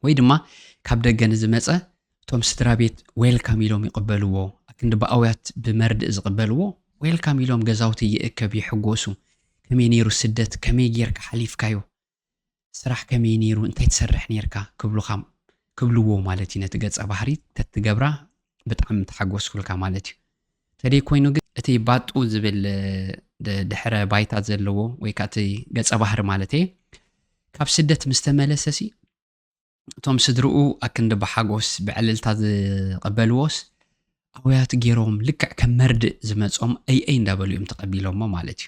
ወይ ድማ ካብ ደገ ንዝመጸ እቶም ስድራ ቤት ዌልካም ኢሎም ይቕበልዎ፣ ኣክንዲ ብኣውያት ብመርድእ ዝቕበልዎ ዌልካም ኢሎም ገዛውቲ ይእከብ ይሕጎሱ፣ ከመይ ነይሩ ስደት ከመይ ጌርካ ሓሊፍካዮ ስራሕ ከመይ ነይሩ እንታይ ትሰርሕ ነይርካ ክብሉኻ ክብልዎ ማለት እዩ ነቲ ገጸ ባህሪ ተትገብራ ብጣዕሚ ምተሓጎስኩልካ ማለት እዩ። ተደይ ኮይኑ ግን እቲ ባጡ ዝብል ድሕረ ባይታ ዘለዎ ወይ ከኣ እቲ ገጸ ባህሪ ማለት እየ ካብ ስደት ምስ ተመለሰ ሲ እቶም ስድርኡ ኣክንዲ ብሓጎስ ብዕልልታ ዝቐበልዎስ ኣውያት ገይሮም ልክዕ ከም መርድእ ዝመጾም ኣይኣይ እንዳበሉ እዮም ተቐቢሎሞ ማለት እዩ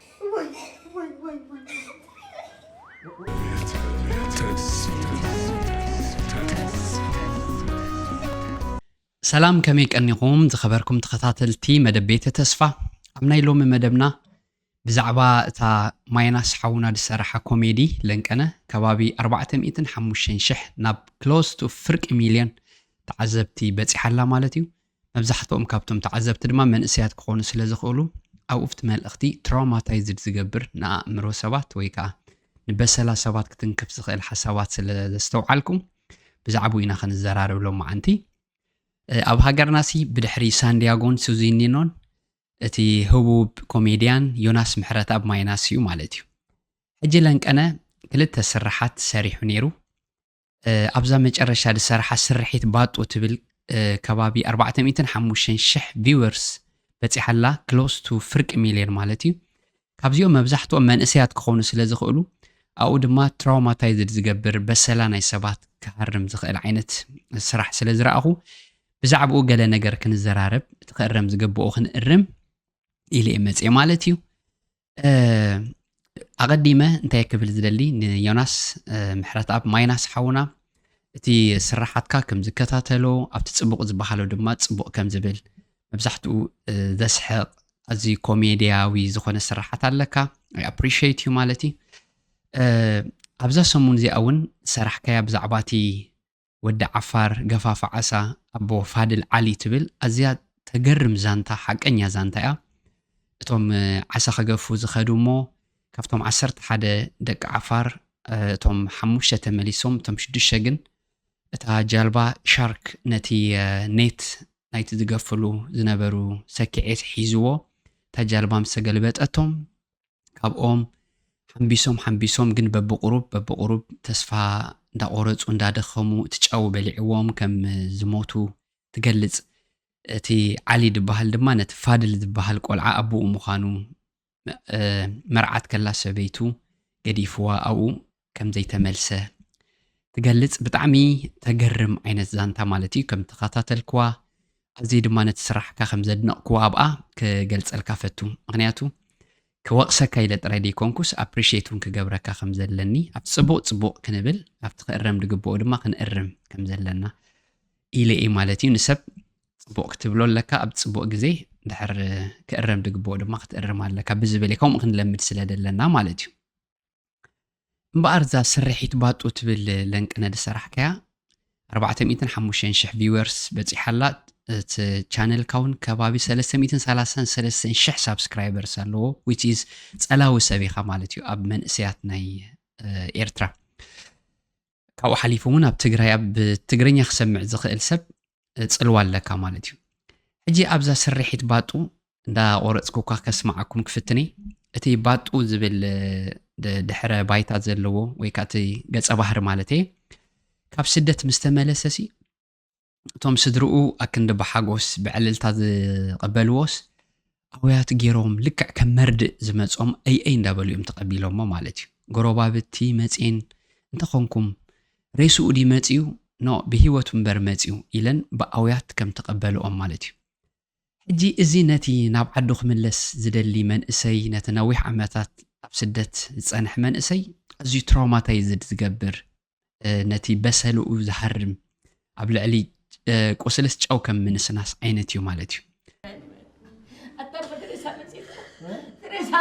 ሰላም ከመይ ቀኒኹም ዝኸበርኩም ተኸታተልቲ መደብ ቤተ ተስፋ ኣብ ናይ ሎሚ መደብና ብዛዕባ እታ ማይናስ ሓውና ዝሰራሓ ኮሜዲ ለንቀነ ከባቢ 405 ሽሕ ናብ ክሎስ ቱ ፍርቂ ሚልዮን ተዓዘብቲ በፂሓላ ማለት እዩ መብዛሕትኦም ካብቶም ተዓዘብቲ ድማ መንእሰያት ክኾኑ ስለ ዝኽእሉ፣ ኣብኡፍቲ መልእኽቲ ትራውማታይዝድ ዝገብር ንኣእምሮ ሰባት ወይ ከኣ ንበሰላ ሰባት ክትንክፍ ዝኽእል ሓሳባት ስለ ዘስተውዓልኩ ብዛዕብኡ ኢና ክንዘራረብ ሎማዓንቲ። ኣብ ሃገርናሲ ብድሕሪ ሳንዲያጎን ሱዚኒኖን እቲ ህቡብ ኮሜድያን ዮናስ ምሕረትኣብ ማይናስ እዩ ማለት እዩ። ሕጂ ለንቀነ ክልተ ስርሓት ሰሪሑ ነይሩ። ኣብዛ መጨረሻ ዝሰራሓ ስርሒት ባጡ ትብል ከባቢ ኣርባዕተ ሚእትን ሓሙሽተን ሽሕ ቪወርስ በፂሓ ኣላ ክሎስ ቱ ፍርቂ ሚልዮን ማለት እዩ ካብዚኦም መብዛሕትኦም መንእሰያት ክኾኑ ስለ ዝኽእሉ ኣብኡ ድማ ትራውማታይዝድ ዝገብር በሰላ ናይ ሰባት ክሃርም ዝኽእል ዓይነት ስራሕ ስለ ዝረኣኹ ብዛዕባኡ ገለ ነገር ክንዘራረብ እቲ ክእረም ዝግብኦ ክንእርም ኢለ እየ መፅኤ ማለት እዩ ኣቐዲመ እንታይ ክብል ዝደሊ ንዮናስ ምሕረት ኣብ ማይናስ ሓውና እቲ ስራሓትካ ከም ዝከታተሎ ኣብቲ ፅቡቕ ዝበሃሎ ድማ ፅቡቕ ከም ዝብል መብዛሕትኡ ዘስሕቕ ኣዝዩ ኮሜድያዊ ዝኾነ ስራሓት ኣለካ ኣፕሪሽት እዩ ማለት እዩ ኣብዛ ሰሙን እዚኣ እውን ሰራሕካያ ብዛዕባ እቲ ወዲ ዓፋር ገፋፍ ዓሳ ኣቦ ፋድል ዓሊ ትብል ኣዝያ ተገርም ዛንታ ሓቀኛ ዛንታ እያ እቶም ዓሳ ከገፉ ዝኸዱ እሞ ካብቶም ዓሰርተ ሓደ ደቂ ዓፋር እቶም ሓሙሽተ ተመሊሶም እቶም ሽዱሽተ ግን እታ ጃልባ ሻርክ ነቲ ኔት ናይቲ ዝገፍሉ ዝነበሩ ሰኪዔት ሒዝዎ እታ ጃልባ ምስ ተገልበጠቶም ካብኦም ሓምቢሶም ሓምቢሶም ግን በብቑሩብ በብቑሩብ ተስፋ እንዳቖረጹ እንዳደኸሙ እቲ ጨው በሊዕዎም ከም ዝሞቱ ትገልጽ። እቲ ዓሊ ድበሃል ድማ ነቲ ፋድል ዝበሃል ቆልዓ ኣቦኡ ምዃኑ መርዓት ከላ ሰበይቱ ገዲፍዋ ኣብኡ ከም ዘይተመልሰ ትገልጽ ብጣዕሚ ተገርም ዓይነት ዛንታ ማለት እዩ ከም ተኸታተልክዋ ኣዝየ ድማ ነቲ ስራሕካ ከም ዘድነቕክዎ ኣብኣ ክገልጸልካ ፈቱ ምክንያቱ ክወቕሰካ ኢለ ጥራይ ዘይኮንኩስ ኣፕሪሽት እውን ክገብረካ ከም ዘለኒ ኣብ ጽቡቕ ጽቡቕ ክንብል ኣብቲ ክእረም ዝግብኦ ድማ ክንእርም ከም ዘለና ኢለ እየ ማለት እዩ ንሰብ ጽቡቕ ክትብሎ ኣለካ ኣብ ጽቡቕ ግዜ ድሕር ክእረም ዝግብኦ ድማ ክትእርም ኣለካ ብዝብል ከምኡ ክንለምድ ስለ ዘለና ማለት እዩ እምበኣር እዛ ስርሒት ባጡ ትብል ለንቅነ ዝሰራሕካያ ኣርባዕተ ሚእትን ሓሙሽተን ሽሕ ቪወርስ በጺሓ ኣላ እቲ ቻነልካ እውን ከባቢ ሰለስተ ሚእትን ሰላሳን ሰለስተን ሽሕ ሳብስክራይበርስ ኣለዎ ዊች ኢዝ ጸላዊ ሰብ ኢኻ ማለት እዩ ኣብ መንእሰያት ናይ ኤርትራ ካብኡ ሓሊፉ እውን ኣብ ትግራይ ኣብ ትግርኛ ክሰምዕ ዝኽእል ሰብ ፅልዋ ኣለካ ማለት እዩ ሕጂ ኣብዛ ስርሒት ባጡ እንዳቆረፅኩካ ከስማዓኩም ክፍትን እየ እቲ ባጡ ዝብል ድሕረ ባይታ ዘለዎ ወይ ከዓ እቲ ገፀ ባህሪ ማለት እየ ካብ ስደት ምስተመለሰ ሲ እቶም ስድርኡ ኣክንዲ ብሓጎስ ብዕልልታ ዝቐበልዎስ ኣውያት ገይሮም ልክዕ ከም መርድእ ዝመጾም ኣይኣይ እንዳበሉ እዮም ተቐቢሎሞ ማለት እዩ። ጎረባብቲ መጼን እንተኾንኩም ሬስኡ ድዩ መጺኡ ኖእ ብህይወቱ እምበር መጺኡ ኢለን ብኣውያት ከም ተቐበልኦም ማለት እዩ። ሕጂ እዚ ነቲ ናብ ዓዱ ክምለስ ዝደሊ መንእሰይ ነቲ ነዊሕ ዓመታት ኣብ ስደት ዝጸንሐ መንእሰይ ኣዝዩ ትራውማታይዝድ ዝገብር ነቲ በሰልኡ ዝሃርም ኣብ ልዕሊ ቁስልስ ጨው ከም ምንስናስ ዓይነት እዩ ማለት እዩ ሬሳ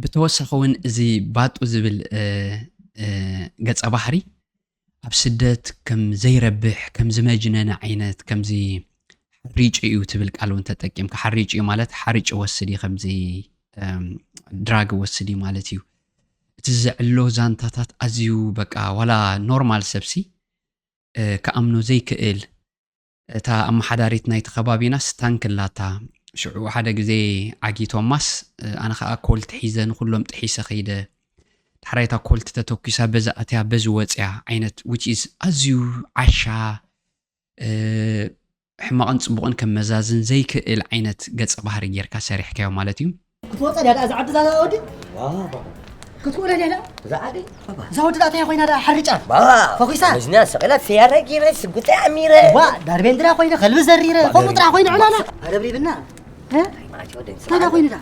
ብተወሳኺ እውን እዚ ባጡ ዝብል ገፀ ባህሪ ኣብ ስደት ከም ዘይረብሕ ከም ዝመጅነነ ዓይነት ከምዚ ሓሪጭ እዩ ትብል ቃል እውን ተጠቂምካ ሓሪጭ እዩ ማለት ሓርጭ ወስድ እዩ ከምዚ ድራግ ወስድ እዩ ማለት እዩ እቲ ዘዕሎ ዛንታታት ኣዝዩ በቃ ዋላ ኖርማል ሰብሲ ክኣምኖ ዘይክእል እታ ኣመሓዳሪት ናይቲ ከባቢናስ ታንክ ኣላታ ሽዑ ሓደ ግዜ ዓጊቶማስ ኣነ ከዓ ኮልት ሒዘ ንኩሎም ጥሒሰ ከይደ ዳሕራይ እታ ኮልት ተተኪሳ በዚ ኣትያ በዚ ወፅያ ዓይነት which is ኣዝዩ ዓሻ ሕማቕን ጽቡቕን ከመዛዝን ዘይክእል ዓይነት ገጸ ባህሪ ጌርካ ሰሪሕካዮ ማለት እዩ። ክትወጸ ድያ ደኣ እዛ ዓዲ እዛ ወዲ ክትውረ ድያ ደኣ እዛ ዓዲ እዛ ወዲ ደኣ እንታይ ኮይና ደኣ ሓርጫ ፈኺሳ መዝና ሰቂላ ሰያራ ጌረ ስጉጠ ኣሚረ ዋ ዳርቤንድራ ኮይነ ከልቢ ዘሪረ ከምኡ ጥራሕ ኮይኑ ዕላላ ኣረብሪብና እንታይ ደኣ ኮይኑ ደኣ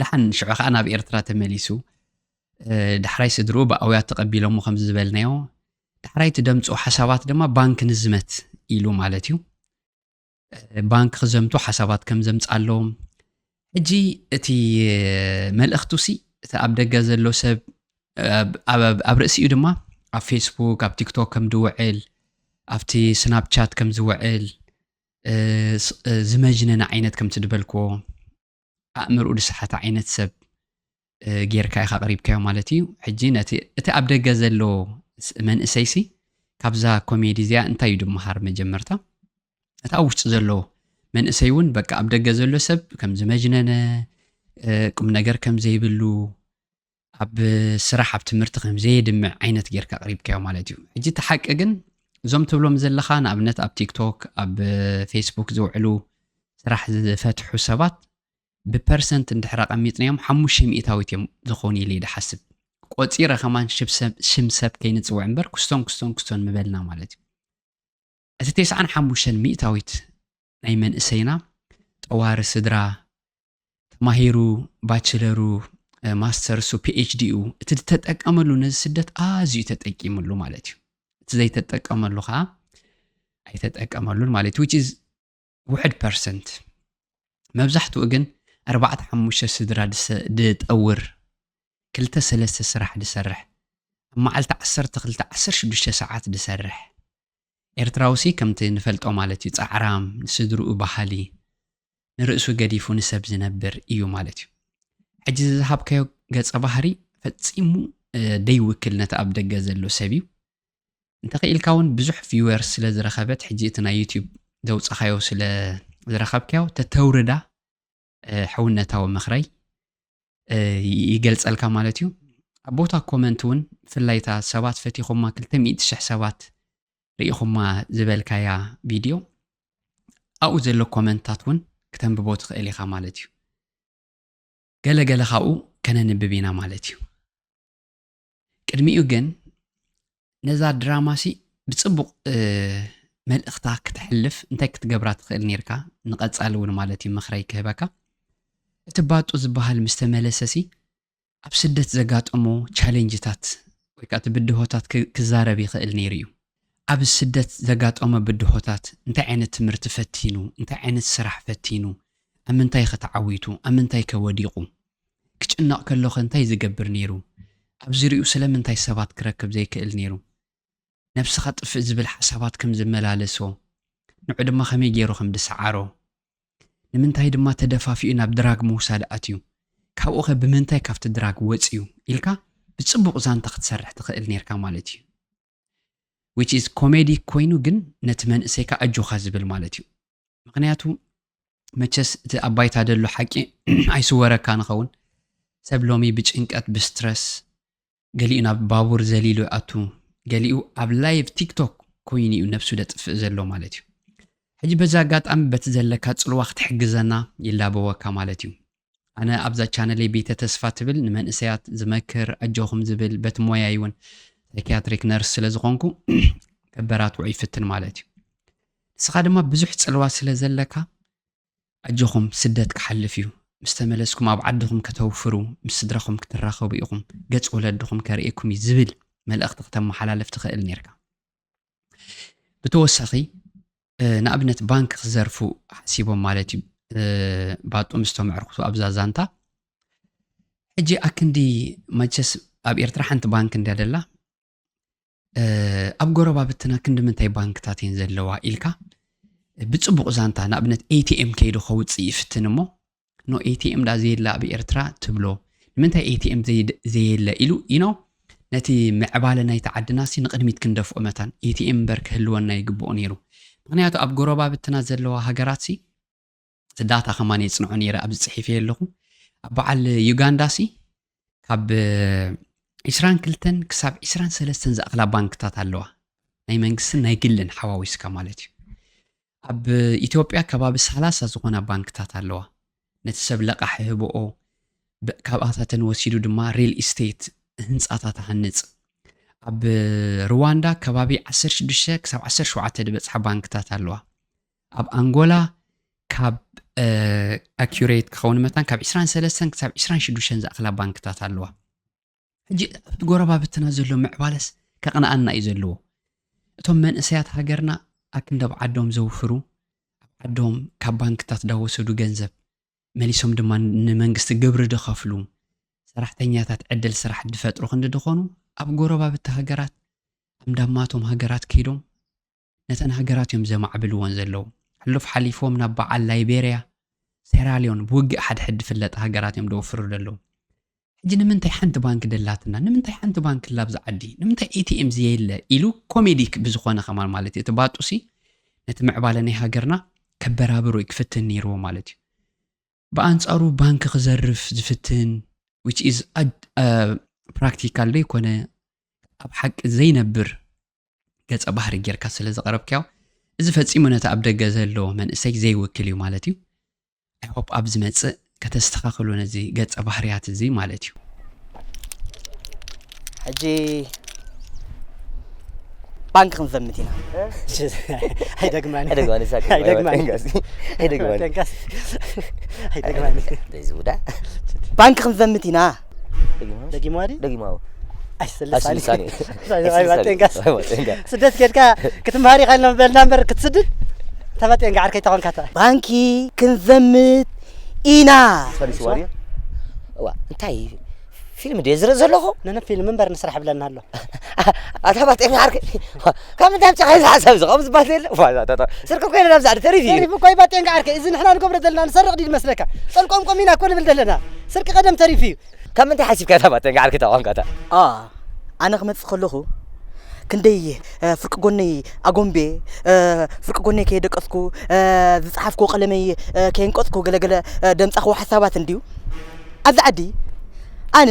ድሓን ሽዑ ከዓ ናብ ኤርትራ ተመሊሱ ዳሕራይ ስድርኡ ብኣውያት ተቐቢሎሞ ከም ዝበልናዮ ዳሕራይ እቲ ደምፁ ሓሳባት ድማ ባንክ ንዝመት ኢሉ ማለት እዩ ባንክ ክዘምቱ ሓሳባት ከም ዘምፃሎም ሕጂ እቲ መልእኽቱ ሲ እቲ ኣብ ደገ ዘሎ ሰብ ኣብ ርእሲ እዩ ድማ ኣብ ፌስቡክ ኣብ ቲክቶክ ከም ዝውዕል ኣብቲ ስናፕቻት ከም ዝውዕል ዝመጅነነ ዓይነት ከምቲ ዝበልክዎ ኣእምርኡ ዝሰሓተ ዓይነት ሰብ ጌርካ ኢኻ ኣቕሪብካዮ ማለት እዩ ሕጂ ነቲ እቲ ኣብ ደገ ዘሎ መንእሰይሲ ካብዛ ኮሜዲ እዚኣ እንታይ እዩ ድመሃር መጀመርታ እቲ ኣብ ውሽጢ ዘሎ መንእሰይ እውን በቃ ኣብ ደገ ዘሎ ሰብ ከም ዝመጅነነ ቁም ነገር ከም ዘይብሉ ኣብ ስራሕ ኣብ ትምህርቲ ከም ዘየድምዕ ዓይነት ጌርካ ኣቕሪብካዮ ማለት እዩ ሕጂ እቲ ሓቂ ግን እዞም ትብሎም ዘለኻ ንኣብነት ኣብ ቲክቶክ ኣብ ፌስቡክ ዝውዕሉ ስራሕ ዝፈትሑ ሰባት ብፐርሰንት እንድሕር ኣቐሚጥናዮም ሓሙሽተ ሚእታዊት እዮም ዝኾኑ ኢለ ድሓስብ ቆፂረ ከማን ሽም ሰብ ከይንፅውዕ እምበር ክስቶን ክስቶን ክስቶን ምበልና ማለት እዩ እቲ ቴስዓን ሓሙሽተን ሚእታዊት ናይ መንእሰይና ጠዋሪ ስድራ ተማሂሩ ባችለሩ ማስተርሱ ፒኤችዲኡ እቲ ዝተጠቀመሉ ነዚ ስደት ኣዝዩ ተጠቂምሉ ማለት እዩ እቲ ዘይተጠቀመሉ ከዓ ኣይተጠቀመሉን ማለት እዩ ውሕድ ፐርሰንት መብዛሕትኡ ግን ኣርባዕተ ሓሙሽተ ስድራ ድጠውር ክልተ ሰለስተ ስራሕ ድሰርሕ ኣብ መዓልቲ ዓሰርተ ክልተ ዓሰርተ ሽዱሽተ ሰዓት ድሰርሕ ኤርትራውሲ ከምቲ ንፈልጦ ማለት እዩ ፃዕራም ንስድርኡ ባህሊ ንርእሱ ገዲፉ ንሰብ ዝነብር እዩ ማለት እዩ ሕጂ ዝዝሃብካዮ ገፀ ባህሪ ፈፂሙ ደይውክል ነቲ ኣብ ደገ ዘሎ ሰብ እዩ እንተኺኢልካውን ብዙሕ ቪወርስ ስለ ዝረኸበት ሕጂ እቲ ናይ ዩቲዩብ ዘውጻኻዮ ስለ ዝረኸብካዮ ተተውርዳ ሕውነታዊ ምኽረይ ይገልጸልካ ማለት እዩ ኣብ ቦታ ኮመንት እውን ብፍላይ እታ ሰባት ፈቲኹማ 200 ሽሕ ሰባት ርኢኹማ ዝበልካያ ቪድዮ ኣብኡ ዘሎ ኮመንታት እውን ክተንብቦ ትኽእል ኢኻ ማለት እዩ ገለገለ ካብኡ ከነንብብ ኢና ማለት እዩ ቅድሚኡ ግን ነዛ ድራማሲ ብጽቡቕ መልእኽታ ክተሕልፍ እንታይ ክትገብራ ትኽእል ነርካ ንቐጻሊ እውን ማለት እዩ ምኽረይ ክህበካ እቲ ባጡ ዝበሃል ምስ ተመለሰሲ ኣብ ስደት ዘጋጠሞ ቻሌንጅታት ወይ ከዓ እቲ ብድሆታት ክዛረብ ይኽእል ነይሩ እዩ ኣብ ስደት ዘጋጠሞ ብድሆታት፣ እንታይ ዓይነት ትምህርቲ ፈቲኑ፣ እንታይ ዓይነት ስራሕ ፈቲኑ፣ ኣብ ምንታይ'ኸ ተዓዊቱ፣ ኣብ ምንታይ'ከ ወዲቑ፣ ክጭነቕ ከሎ'ኸ እንታይ ዝገብር ነይሩ፣ ኣብ ዙርያኡ ስለምንታይ ሰባት ክረክብ ዘይክእል ነይሩ፣ ነብስኻ ጥፍእ ዝብል ሓሳባት ከም ዝመላለሶ፣ ንዑ ድማ ከመይ ገይሩ ከም ዝሰዓሮ፣ ንምንታይ ድማ ተደፋፊኡ ናብ ድራግ ምውሳድ ኣትዩ፣ ካብኡ'ኸ ብምንታይ ካብቲ ድራግ ወጺኡ ኢልካ ብጽቡቕ ዛንታ ክትሰርሕ ትኽእል ነይርካ ማለት እዩ። which is ኮሜዲ ኮይኑ ግን ነቲ መንእሰይካ ኣጆኻ ዝብል ማለት እዩ ምክንያቱ መቸስ እቲ ኣብ ባይታ ደሎ ሓቂ ኣይስወረካ ንኸውን ሰብ ሎሚ ብጭንቀት ብስትረስ ገሊኡ ናብ ባቡር ዘሊሉ ይኣቱ ገሊኡ ኣብ ላይቭ ቲክቶክ ኮይኑ እዩ ነብሱ ደጥፍእ ዘሎ ማለት እዩ ሕጂ በዚ ኣጋጣሚ በቲ ዘለካ ፅልዋ ክትሕግዘና ይላበወካ ማለት እዩ ኣነ ኣብዛ ቻነለይ ቤተ ተስፋ ትብል ንመንእሰያት ዝመክር ኣጆኹም ዝብል በቲ ሞያይ እውን ሳይክያትሪክ ነርስ ስለ ዝኾንኩ ከበራትዖ ይፍትን ማለት እዩ ንስኻ ድማ ብዙሕ ጽልዋ ስለ ዘለካ ኣጆኹም ስደት ክሓልፍ እዩ ምስ ተመለስኩም ኣብ ዓድኹም ከተውፍሩ ምስ ስድራኹም ክትራኸቡ ኢኹም ገጽ ወለድኹም ከርእየኩም እዩ ዝብል መልእኽቲ ክተመሓላልፍ ትኽእል ነርካ ብተወሳኺ ንኣብነት ባንክ ክዘርፉ ሓሲቦም ማለት እዩ ባጡ ምስ ተመዕርኩቱ ኣብዛ ዛንታ ሕጂ ኣክንዲ መቸስ ኣብ ኤርትራ ሓንቲ ባንክ እንድያ ደላ ኣብ ጎረባብትና ክንዲ ምንታይ ባንክታት እየን ዘለዋ ኢልካ ብፅቡቕ ዛንታ ንኣብነት ኤቲኤም ከይዱ ከውፅእ ይፍትን እሞ ኖ ኤቲኤም ዳ ዘየለ ኣብ ኤርትራ ትብሎ ንምንታይ ኤቲኤም ዘየለ ኢሉ ኢኖ ነቲ ምዕባለ ናይቲ ዓድናሲ ንቕድሚት ክንደፍኦ መታን ኤቲኤም እምበር ክህልወና ይግብኦ ነይሩ ምክንያቱ ኣብ ጎረባብትና ዘለዋ ሃገራትሲ ዳታ ከማን የፅንዖ ነይረ ኣብዚ ፅሒፈ ኣለኹ ኣብ በዓል ዩጋንዳሲ ካብ 22 ክሳብ 23 ዝኣኽላ ባንክታት ኣለዋ ናይ መንግስትን ናይ ግልን ሓዋዊስካ ማለት እዩ ኣብ ኢትዮጵያ ከባቢ ሰላሳ ዝኾና ባንክታት ኣለዋ። ነቲ ሰብ ለቓሒ ህብኦ፣ ካብኣታተን ወሲዱ ድማ ሪል ኢስቴት፣ ህንጻታት፣ እሃንጽ። ኣብ ርዋንዳ ከባቢ ዓሰርተ ሽዱሽተ ክሳብ ዓሰርተ ሸውዓተ ዝበጽሓ ባንክታት ኣለዋ። ኣብ ኣንጎላ ካብ ኣኪሬት ክኸውን መታን ካብ ዕስራን ሰለስተን ክሳብ ዕስራን ሽዱሽተን ዝኣኽላ ባንክታት ኣለዋ። ሕጂ ኣብቲ ጎረባብትና ዘሎ ምዕባለስ ከቕንኣና እዩ ዘለዎ እቶም መንእሰያት ሃገርና ኣክንደብ ዓዶም ዘውፍሩ ኣብ ዓዶም ካብ ባንክታት ዳወሰዱ ገንዘብ መሊሶም ድማ ንመንግስቲ ግብሪ ድኸፍሉ ሰራሕተኛታት ዕድል ስራሕ ድፈጥሩ ክንዲ ድኾኑ ኣብ ጎረባብቲ ሃገራት ኣምዳማቶም ሃገራት ከይዶም ነተን ሃገራት እዮም ዘማዕብልወን ዘለዉ። ሕሉፍ ሓሊፎም ናብ በዓል ላይቤርያ፣ ሴራልዮን ብውግእ ሓድሕድ ድፍለጣ ሃገራት እዮም ደውፍሩ ደለዉ። ሕጂ ንምንታይ ሓንቲ ባንክ ደላትና? ንምንታይ ሓንቲ ባንክ ኣላ ኣብዚ ዓዲ? ንምንታይ ኤቲኤም ዘየለ? ኢሉ ኮሜዲክ ብዝኾነ ከማን ማለት እዩ እቲ ባጡሲ ነቲ ምዕባለ ናይ ሃገርና ከበራብሮ እዩ ክፍትን ነይርዎ ማለት እዩ። ብኣንጻሩ ባንክ ክዘርፍ ዝፍትን which is ፕራክቲካል ዘይኮነ ኣብ ሓቂ ዘይነብር ገጸ ባህሪ ጌርካ ስለ ዘቕረብካዮ እዚ ፈጺሙ ነቲ ኣብ ደገ ዘሎ መንእሰይ ዘይውክል እዩ ማለት እዩ ኣይሆፕ ኣብ ዝመጽእ ከተስተኻኽሉ ነዚ ገጸ ባህርያት እዚ ማለት እዩ ሕጂ ባንክ ክንዘምት ኢና ኣይደግማን ባንክ ክንዘምት ኢና ደጊማ ድዩ ደጊማ ኣዎ ኣይስልሳኒ ኣይስልሳኒ። ኣይባጤንካ ኣይባጤንካ። ስደት ኬድካ ክትምሃር ኢኻ ኢልና በልና እምበር ክትስድድ ተባጤንካ ዓርከይ ተኾንካታ ባንኪ ክንዘምት ኢና ፈሪስዋ ድዩ እዋ እንታይ ፊልም ድየ ዝርኢ ዘለኹ ነነ ፊልም እምበር ንስራሕ ብለና ኣሎ ኣታ ባጤሚ ዓርከይ ካብ ምንታይ ኣምፂኻ እዚ ሓሳብ እዚ ከምኡ ዝበሃል ዘየለ ስርቂ ኮይነ ናብዚ ዓዲ ተሪፍ እዩ ተሪፍ እኮ እዩ ባጤንካ ዓርከይ እዚ ንሕና ንገብሮ ዘለና ንሰርቕ ድዩ ዝመስለካ ጸልቆምቆም ኢና እኮ ንብል ዘለና ስርቂ ቀደም ተሪፍ እዩ ካብ ምንታይ ሓሲብካ እታ ባጤንካ ዓርከይ እታ ቋንቋታ ኣነ ክመፅእ ከለኹ ክንደይ ፍርቂ ጎነይ ኣጎንቤ ፍርቂ ጎነይ ከየደቀስኩ ዝፀሓፍኩ ቀለመይ ከየንቀፅኩ ገለገለ ደምፃኹ ሓሳባት እንድዩ ኣብዚ ዓዲ ኣነ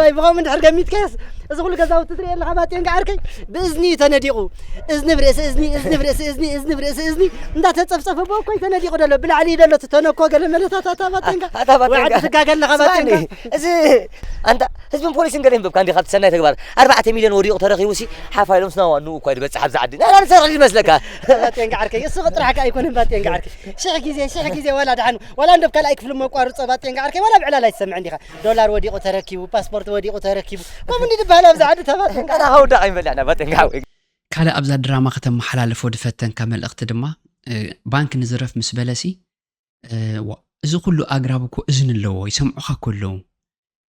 ወይ ብኸምኡ እንድሕር ገሚትካዮስ እዚ ኩሉ ገዛውቲ ትሪኦ ኣለኻ ባጤን ገዓርከይ ብእዝኒ እዩ ተነዲቑ እዝኒ ብርእሲ እዝኒ እዝኒ ብርእሲ እዝኒ እዝኒ ብርእሲ እዝኒ እንዳተፀፍፀፈ ብኦ እኮ እዩ ተነዲቑ ደሎ ብላዕሊ እዩ ደሎ እቲ ተነኮ ገለ መለታት ኣታ ባጤንጋ ኣታ ባጤንጋ። ወዓዲ ትጋገ ኣለኻ ባጤንጋ ስማዕኒ፣ እዚ ኣንታ ህዝብን ፖሊስን ገለ ይንበብካ እንዲ ካብቲ ሰናይ ተግባር ኣርባዕተ ሚልዮን ወዲቑ ተረኺቡ ሲ ሓፍ ኢሎም ስና ዋንኡ እኳ ዝበፅሕ ኣብዚ ዓዲ ናይና ንሰርሕ ይመስለካ ባጤን ገዓርከይ እሱ ጥራሕ ከዓ ኣይኮነን ባጤን ገዓርከይ ሽሕ ግዜ ሽሕ ግዜ ዋላ ድሓን ዋላ እንዶብ ካልኣይ ክፍሊ መቋርፆ ባጤን ገዓርከይ ዋላ ብዕላል ኣይትሰምዕን ዲኻ ዶላር ወዲቁ ተረኪቡ ፓስፖርት ወዲቁ ተረኪቡ ከምኡ እንዲ ዝበሃል ኣብዚ ዓዲ ተባጥን ኣታ ከውዳቕ ይመልዕና ባጥን ሓወይ ካልእ ኣብዛ ድራማ ከተመሓላልፎ ድፈተንካ መልእኽቲ ድማ ባንክ ንዝረፍ ምስ በለሲ እዚ ኩሉ ኣግራብ እኮ እዝኒ ኣለዎ ይሰምዑኻ እኮ ኣለዉ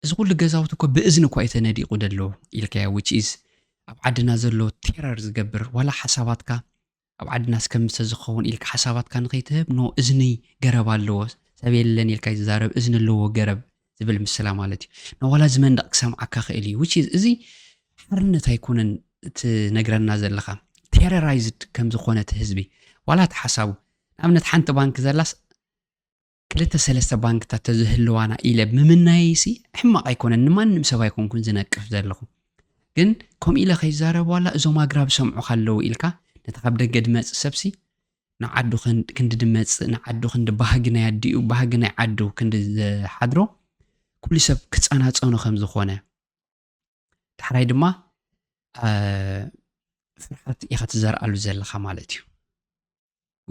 እዚ ኩሉ ገዛውቲ እኮ ብእዝኒ እኳ የተነዲቑ ደሎ ኢልካዮ ዊች ኢዝ ኣብ ዓድና ዘሎ ቴረር ዝገብር ዋላ ሓሳባትካ ኣብ ዓድናስ ከምሰ ዝኸውን ኢልካ ሓሳባትካ ንኸይትህብ ን እዝኒ ገረብ ኣለዎ ሰብ የለን ኢልካ ይዛረብ እዝኒ ኣለዎ ገረብ ዝብል ምስላ ማለት እዩ ን ዋላ እዚ መንደቕ ክሰምዓካ ክእል እዩ which is እዚ ሓርነት ኣይኮነን ትነግረና ዘለኻ ቴረራይዝድ ከም ዝኾነ እቲ ህዝቢ ዋላ እቲ ሓሳቡ ንኣብነት ሓንቲ ባንክ ዘላስ ክልተ ሰለስተ ባንክታት ተዝህልዋና ኢለ ምምናየይሲ ሕማቕ ኣይኮነን ንማንም ሰብ ኣይኮንኩን ዝነቅፍ ዘለኹ ግን ከምኡ ኢለ ከይዛረብ ዋላ እዞም ኣግራብ ሰምዑኻ ኣለዉ ኢልካ ነቲ ካብ ደገ ድመፅእ ሰብሲ ንዓዱ ክንዲ ድመፅእ ንዓዱ ክንዲ ባህጊ ናይ ኣዲኡ ባህጊ ናይ ዓዱ ክንዲ ዝሓድሮ ኩሉ ሰብ ክፀናፀኑ ከም ዝኾነ ዳሕራይ ድማ ፍርሓት ኢኻ ትዘርኣሉ ዘለኻ ማለት እዩ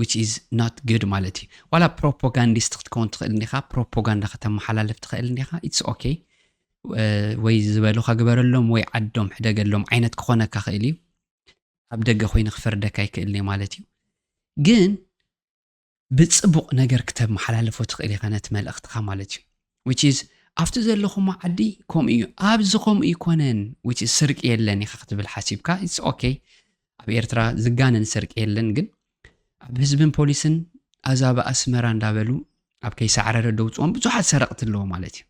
ዊች ኢዝ ናት ግድ ማለት እዩ ዋላ ፕሮፓጋንዲስት ክትከውን ትኽእል እንዲኻ ፕሮፓጋንዳ ከተመሓላልፍ ትኽእል እንዲኻ ኢትስ ኦኬ ወይ ዝበሉካ ግበረሎም ወይ ዓዶም ሕደገሎም ዓይነት ክኾነካ ክእል እዩ ኣብ ደገ ኮይኑ ክፈርደካ ይክእል ኒ ማለት እዩ ግን ብጽቡቕ ነገር ክተመሓላልፎ ትኽእል ኢኻ ነቲ መልእኽትኻ ማለት እዩ which is ኣብቲ ዘለኹሞ ዓዲ ከምኡ እዩ ኣብዚ ከምኡ ይኮነን which is ስርቂ የለን ኢኻ ክትብል ሓሲብካ ኢትስ ኦኬ ኣብ ኤርትራ ዝጋነን ስርቂ የለን ግን ኣብ ህዝብን ፖሊስን ኣዛብ ኣስመራ እንዳበሉ ኣብ ከይሳዕረረ ደውፅኦም ብዙሓት ሰረቕቲ ኣለዎ ማለት እዩ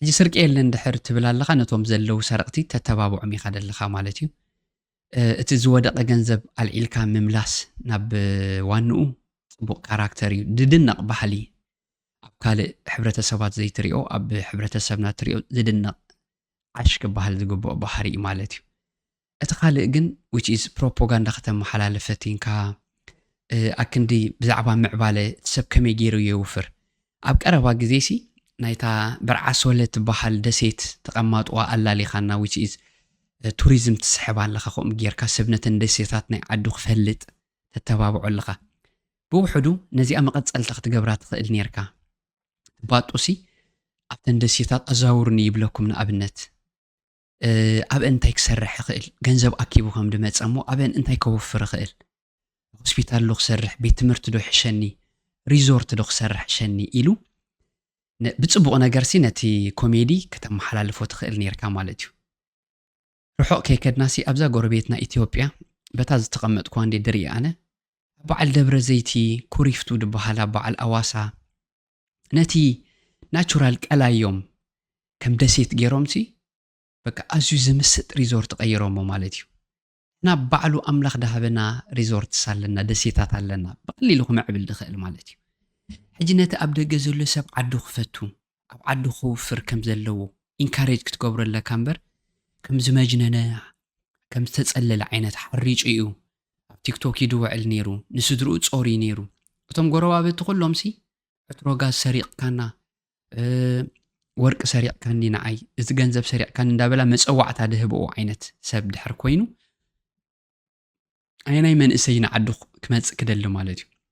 ሕጂ ስርቂ የለን ድሕር ትብል ኣለኻ ነቶም ዘለዉ ሰረቕቲ ተተባብዖም ኢኻ ደለኻ ማለት እዩ እቲ ዝወደቐ ገንዘብ ኣልዒልካ ምምላስ ናብ ዋንኡ ፅቡቕ ካራክተር እዩ ዝድነቕ ባህሊ ኣብ ካልእ ሕብረተሰባት ዘይትሪኦ ኣብ ሕብረተሰብና ትሪኦ ዝድነቕ ዓሽ ክበሃል ዝግብኦ ባህሪ እዩ ማለት እዩ እቲ ካልእ ግን which is ፕሮፖጋንዳ ከተመሓላልፍ ፈቲንካ ኣክንዲ ብዛዕባ ምዕባለ እቲ ሰብ ከመይ ገይሩ የውፍር ኣብ ቀረባ ግዜሲ ናይታ በርዓሶለ ትበሃል ደሴት ተቐማጥዋ ኣላሊኻና which is ቱሪዝም ትስሕብ ኣለኻ ከምኡ ጌርካ ሰብ ነተን ደሴታት ናይ ዓዱ ክፈልጥ ተተባብዖ ኣለኻ ብውሕዱ ነዚኣ መቐጸልታ ክትገብራ ትኽእል ኔርካ ባጡሲ ኣብተን ደሴታት ኣዛውርኒ ይብለኩም ንኣብነት ኣበን እንታይ ክሰርሕ ይኽእል፣ ገንዘብ ኣኪቡ ከም ድመፀ እሞ ኣበን እንታይ ከውፍር ይኽእል፣ ሆስፒታል ዶ ክሰርሕ፣ ቤት ትምህርቲ ዶ ይሕሸኒ፣ ሪዞርት ዶ ክሰርሕ ይሸኒ ኢሉ ብፅቡቕ ነገርሲ ነቲ ኮሜዲ ከተመሓላልፎ ትኽእል ነርካ ማለት እዩ። ርሑቕ ከይከድናሲ ኣብዛ ጎረቤትና ኢትዮጵያ በታ ዝተቐመጥኩ እንዴ ድርኢ ኣነ ኣብ በዓል ደብረ ዘይቲ ኩሪፍቱ ድበሃል ኣብ በዓል ኣዋሳ ነቲ ናቹራል ቀላዮም ከም ደሴት ገይሮምሲ በቃ ኣዝዩ ዝምስጥ ሪዞርት ቀይሮሞ ማለት እዩ እና ባዕሉ ኣምላኽ ዳሃበና ሪዞርትስ ኣለና ደሴታት ኣለና ብቐሊሉ ክምዕብል ዝኽእል ማለት እዩ ሕጂ ነቲ ኣብ ደገ ዘሎ ሰብ ዓዱ ክፈቱ ኣብ ዓዱ ክውፍር ከም ዘለዎ ኢንካሬጅ ክትገብሮ ኣለካ እምበር ከም ዝመጅነነ ከም ዝተጸለለ ዓይነት ሓሪጩ እዩ ኣብ ቲክቶክ ይድወዕል ነይሩ ንስድርኡ ጾርዩ ነይሩ እቶም ጎረባብቲ ኩሎምሲ ዕትሮ ጋዝ ሰሪቕካና ወርቂ ሰሪቕካኒ ንዓይ እዚ ገንዘብ ሰሪቕካኒ እንዳበላ መፀዋዕታ ድህብኡ ዓይነት ሰብ ድሕር ኮይኑ ኣየናይ መንእሰይ ንዓዱ ክመፅእ ክደሊ ማለት እዩ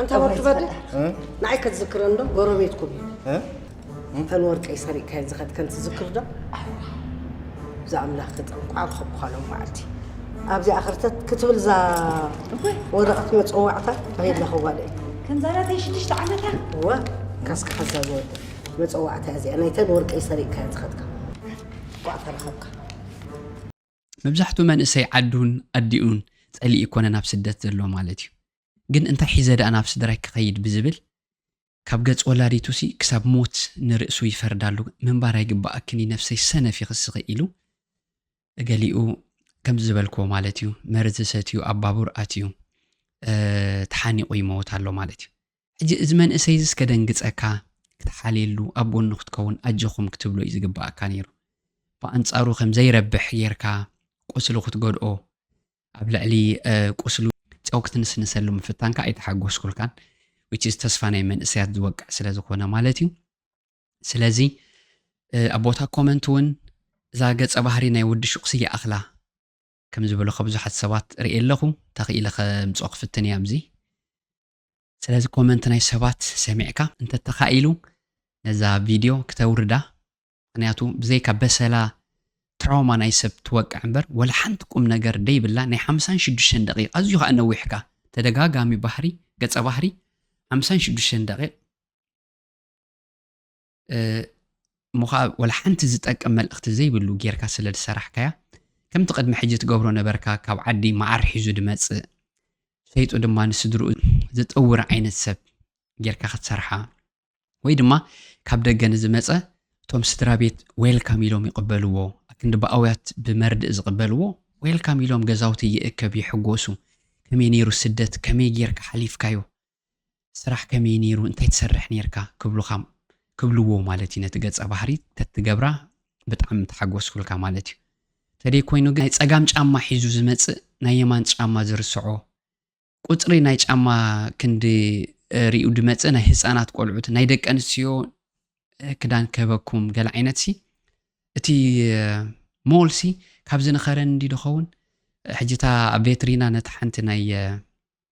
ኣንታ ወርቂ በደ ንዓይ ከትዝክረ እንዶ ጎረቤትኩም እዩ ተን ወርቀይ ሰሪቕካየን ዝኸድከን ትዝክር ዶ እዛ ኣምላኽ ተጠንቋዕ ክኸብኳ ሎም መዓልቲ ኣብዚኣ ክርተት ክትብል እዛ ወረቐት መፀዋዕታ ተኺላ ክዋለ እዩ ከምዛናተይ ሽዱሽተ ዓመታ እወ ካስካ ሓዛ ዝወደ መፀዋዕታ እዚኣ ናይተን ወርቀይ ሰሪቕካየን ዝኸድካ ቋዕ ተረኸብካ መብዛሕቱ መንእሰይ ዓዱን ኣዲኡን ጸሊኢ ይኮነ ናብ ስደት ዘሎ ማለት እዩ ግን እንታይ ሒዘ ደኣ ናብ ስድራይ ክኸይድ ብዝብል ካብ ገጽ ወላዲቱ ሲ ክሳብ ሞት ንርእሱ ይፈርዳሉ ምንባር ኣይግባኣክን ነፍሰይ ሰነፍ ይኽስኺ ኢሉ ገሊኡ ከምዚ ዝበልክዎ ማለት እዩ መርዚ ሰትዩ ኣብ ባቡር ኣትዩ ተሓኒቑ ይመወት ኣሎ ማለት እዩ ሕጂ እዚ መንእሰይ እዚስ ከደንግጸካ ክትሓልየሉ ኣብ ጎኑ ክትከውን ኣጆኹም ክትብሎ እዩ ዝግብኣካ ነይሩ ብኣንጻሩ ከም ዘይረብሕ ጌርካ ቁስሉ ክትጎድኦ ኣብ ልዕሊ ቁስሉ ጨው ክትንስንሰሉ ምፍታንካ ኣይተሓጎስኩልካን which is ተስፋ ናይ መንእሰያት ዝወቅዕ ስለ ዝኾነ ማለት እዩ ስለዚ ኣብ ቦታ ኮመንት እውን እዛ ገጸ ባህሪ ናይ ወዲ ሹቕሲ ይኣኽላ ከም ዝበሉ ከብዙሓት ሰባት ርእየ ኣለኹ ተኽኢለ ከምፅኦ ክፍትን እያ ኣብዚ ስለዚ ኮመንት ናይ ሰባት ሰሚዕካ እንተተኻኢሉ ነዛ ቪድዮ ክተውርዳ ምክንያቱ ብዘይካ በሰላ ትራውማ ናይ ሰብ ትወቅዕ እምበር ወላ ሓንቲ ቁም ነገር ደይብላ ናይ ሓምሳን ሽዱሽተን ደቂቕ ኣዝዩ ከዓ ነዊሕካ ተደጋጋሚ ባህሪ ገፀ ባህሪ ሓምሳን ሽዱሽተን ደቂቕ እሞ ከዓ ወላ ሓንቲ ዝጠቅም መልእኽቲ ዘይብሉ ጌርካ ስለ ዝሰራሕካያ ከምቲ ቅድሚ ሕጂ ትገብሮ ነበርካ ካብ ዓዲ መዓር ሒዙ ድመጽእ ሸይጡ ድማ ንስድርኡ ዝጥውር ዓይነት ሰብ ጌርካ ክትሰርሓ ወይ ድማ ካብ ደገ ንዝመጸ እቶም ስድራ ቤት ዌልካም ኢሎም ይቕበልዎ ኣክንዲ ብኣውያት ብመርድእ ዝቕበልዎ ዌልካም ኢሎም ገዛውቲ ይእከብ ይሕጎሱ ከመይ ነይሩ ስደት ከመይ ጌርካ ሓሊፍካዮ ስራሕ ከመይ ነይሩ እንታይ ትሰርሕ ነይርካ ክብሉኻ ክብልዎ ማለት እዩ ነቲ ገጸ ባህሪ ተትገብራ ብጣዕሚ ምተሓጎስኩልካ ማለት እዩ ተደይ ኮይኑ ግን ናይ ጸጋም ጫማ ሒዙ ዝመጽእ ናይ የማን ጫማ ዝርስዖ ቁጽሪ ናይ ጫማ ክንዲ ሪኡ ድመጽእ ናይ ህጻናት ቆልዑት ናይ ደቂ ኣንስትዮ ክዳን ከበኩም ገለ ዓይነት ሲ እቲ ሞል ሲ ካብዚ ንኸረን እንዲ ድኸውን ሕጂ እታ ኣብ ቬትሪና ነቲ ሓንቲ ናይ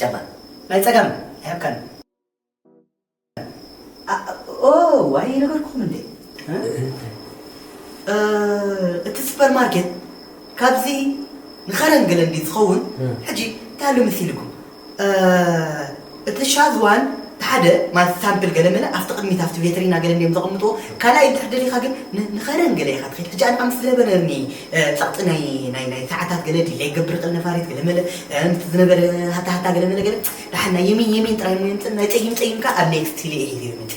ጨባ ናይ ጸጋም ኣይሃብካን ኦው ኣይነገርኩኹም እንዴ እቲ ሱፐር ማርኬት ካብዚ ንኸረን ገለንዲ ዝኸውን ሕጂ ታሉ ምስ ኢልኩም እቲ ሻዝ ዋን እቲ ሓደ ማለት ሳምፕል ገለመለ ኣብቲ ቅድሚት ኣብቲ ቬትሪና ገለ እንድዮም ዘቐምጥዎ ካልኣይ እንድሕር ደሊኻ ግን ንኸረን ገለ ኢኻ ትኸይድ ሕጂ ኣነ ኣምስ ዝነበረኒ ጸቕጢ ናይ ናይ ናይ ሰዓታት ገለ ዲለይ ገብር ቕል ነፋሪት ገለመለ ምስቲ ዝነበረ ሃታ ሃታ ገለመለ ገለ ደሓን ናይ የሚን የሚን ጥራይ እሞ የምጽእ ናይ ጸይም ጸይም ከኣ ኣብ ኔክስት ቲሌ እየ ሂሩ መጺ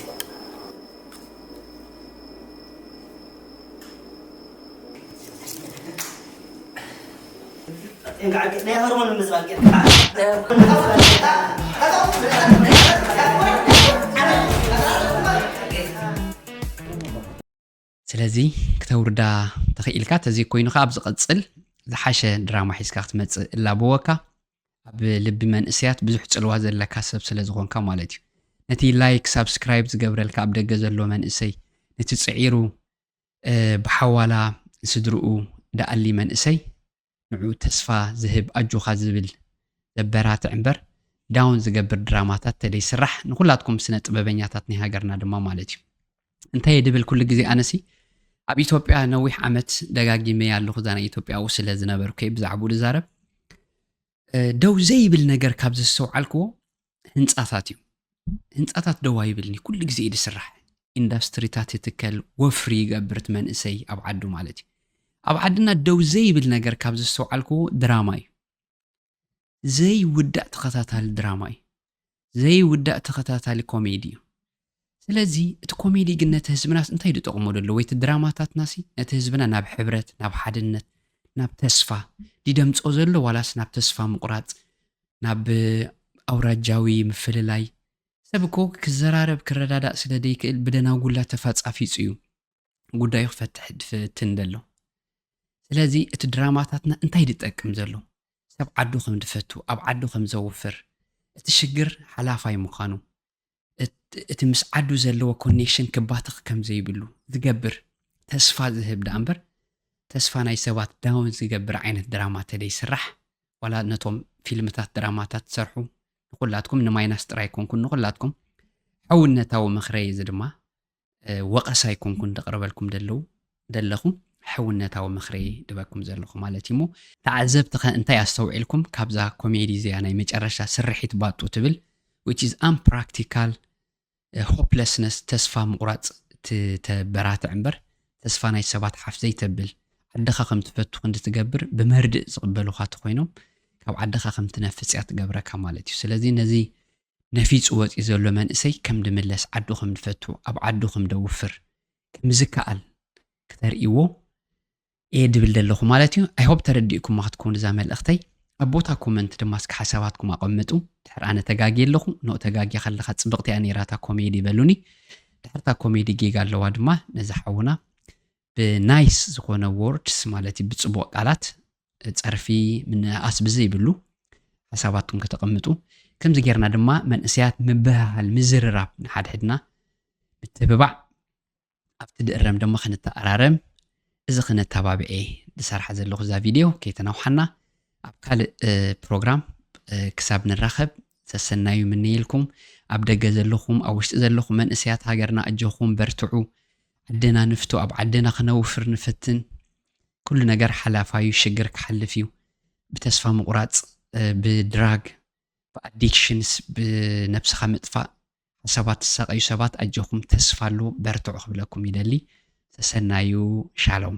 ስለዚ ክተውርዳ ተኽኢልካ ተዘይኮይኑ ከዓ ኣብ ዝቐፅል ዝሓሸ ድራማ ሒዝካ ክትመፅእ እላበወካ ኣብ ልቢ መንእሰያት ብዙሕ ጽልዋ ዘለካ ሰብ ስለ ዝኾንካ ማለት እዩ። ነቲ ላይክ ሳብስክራይብ ዝገብረልካ ኣብ ደገ ዘሎ መንእሰይ፣ ነቲ ጽዒሩ ብሓዋላ ስድርኡ ደኣሊ መንእሰይ ንዑ ተስፋ ዝህብ ኣጆኻ ዝብል ዘበራትዕ እምበር ዳውን ዝገብር ድራማታት ተደይስራሕ ንኹላትኩም ስነ ጥበበኛታት ናይ ሃገርና ድማ ማለት እዩ። እንታየ ድብል ኩሉ ግዜ ኣነሲ ኣብ ኢትዮጵያ ነዊሕ ዓመት ደጋጊመ ኣለኹ እዛ ናይ ኢትዮጵያዊ ስለ ዝነበርኩ ብዛዕባኡ ዝዛረብ ደው ዘይብል ነገር ካብ ዘስተውዓልክዎ ህንፃታት እዩ ህንፃታት ደው ኣይብልኒ ኩሉ ግዜ እዩ ዝስራሕ ኢንዳስትሪታት ይትከል ወፍሪ ይገብርት መንእሰይ ኣብ ዓዱ ማለት እዩ ኣብ ዓድና ደው ዘይብል ነገር ካብ ዘስተውዓልክዎ ድራማ እዩ ዘይውዳእ ተኸታታሊ ድራማ እዩ። ዘይውዳእ ተኸታታሊ ኮሜዲ እዩ። ስለዚ እቲ ኮሜዲ ግን ነቲ ህዝብናስ እንታይ ኢሉ ጠቕሞ ደሎ ወይ እቲ ድራማታትናሲ ነቲ ህዝብና ናብ ሕብረት ናብ ሓድነት ናብ ተስፋ ዲደምፆ ዘሎ ዋላስ ናብ ተስፋ ምቑራፅ ናብ ኣውራጃዊ ምፍልላይ ሰብ እኮ ክዘራረብ ክረዳዳእ ስለ ዘይክእል ብደናጉላ ተፋፃፊፁ እዩ ጉዳዩ ክፈትሕ ድፍትን ደሎ ስለዚ እቲ ድራማታትና እንታይ ድጠቅም ዘሎ ሰብ ዓዱ ከም ድፈቱ ኣብ ዓዱ ከም ዘውፍር እቲ ሽግር ሓላፋይ ምዃኑ እቲ ምስ ዓዱ ዘለዎ ኮኔክሽን ክባትኽ ከም ዘይብሉ ዝገብር ተስፋ ዝህብ ደኣ እምበር ተስፋ ናይ ሰባት ዳውን ዝገብር ዓይነት ድራማ ተደይስራሕ ዋላ ነቶም ፊልምታት ድራማታት ትሰርሑ ንኩላትኩም ንማይናስ ጥራይ ኮንኩን ንኩላትኩም ሕውነታዊ ምኽረይ እዚ ድማ ወቐሳ ኣይኮንኩን ደቕርበልኩም ደለዉ ደለኹ ሕውነታዊ ምኽሪ ድበኩም ዘለኹ ማለት እዩሞ ተዓዘብቲ ከ እንታይ ኣስተውዒልኩም ካብዛ ኮሜዲ እዚኣ ናይ መጨረሻ ስርሒት ባጡ ትብል which is unpractical ሆፕለስነስ eh, ተስፋ ምቑራፅ ተበራትዕ እምበር ተስፋ ናይ ሰባት ሓፍ ዘይተብል ዓድኻ ከም ትፈቱ ክንዲ ትገብር ብመርድእ ዝቕበሉኻ ተኮይኖም ካብ ዓድኻ ከም ትነፍፅ እያ ትገብረካ ማለት እዩ ስለዚ ነዚ ነፊጹ ወጺኡ ዘሎ መንእሰይ ከም ድምለስ ዓዱ ከም ድፈቱ ኣብ ዓዱ ከም ደውፍር ከም ዝከኣል ክተርእይዎ እየ ድብል ደለኹ ማለት እዩ ኣይ ሆፕ ተረዲእኩማ ክትከውን እዛ መልእኽተይ ኣብ ቦታ ኮመንት ድማ እስኪ ሓሳባትኩም ኣቐምጡ ድሕር ኣነ ተጋጊየ ኣለኹ ኖ ተጋጊያ ከለኻ ጽብቕቲ እያ ነይራ እታ ኮሜዲ በሉኒ ድሕርታ ኮሜዲ ጌጋ ኣለዋ ድማ ነዚ ሓውና ብናይስ ዝኾነ ዎርድስ ማለት እዩ ብፅቡቕ ቃላት ጸርፊ ምንእኣስ ብዘይብሉ ሓሳባትኩም ከተቐምጡ ከምዚ ጌርና ድማ መንእሰያት ምብህሃል ምዝርራብ ንሓድሕድና ምትብባዕ ኣብቲ ድእረም ድማ ክንተኣራረም እዚ ክነተባብዔ ዝሰርሓ ዘለኹ እዛ ቪድዮ ከይተናውሓና ኣብ ካልእ ፕሮግራም ክሳብ ንራኸብ ሰሰናዩ ምንይልኩም ኣብ ደገ ዘለኹም ኣብ ውሽጢ ዘለኹም መንእሰያት ሃገርና ኣጆኹም በርትዑ ዓድና ንፍቶ ኣብ ዓድና ክነውፍር ንፈትን ኩሉ ነገር ሓላፋዩ ሽግር ክሓልፍ እዩ ብተስፋ ምቁራጽ ብድራግ ብኣዲክሽንስ ብነብስኻ ምጥፋእ ሓሳባት ዝሳቀዩ ሰባት ኣጆኹም ተስፋ ኣሎ በርትዑ ክብለኩም ይደሊ ሰሰናዩ ሻሎም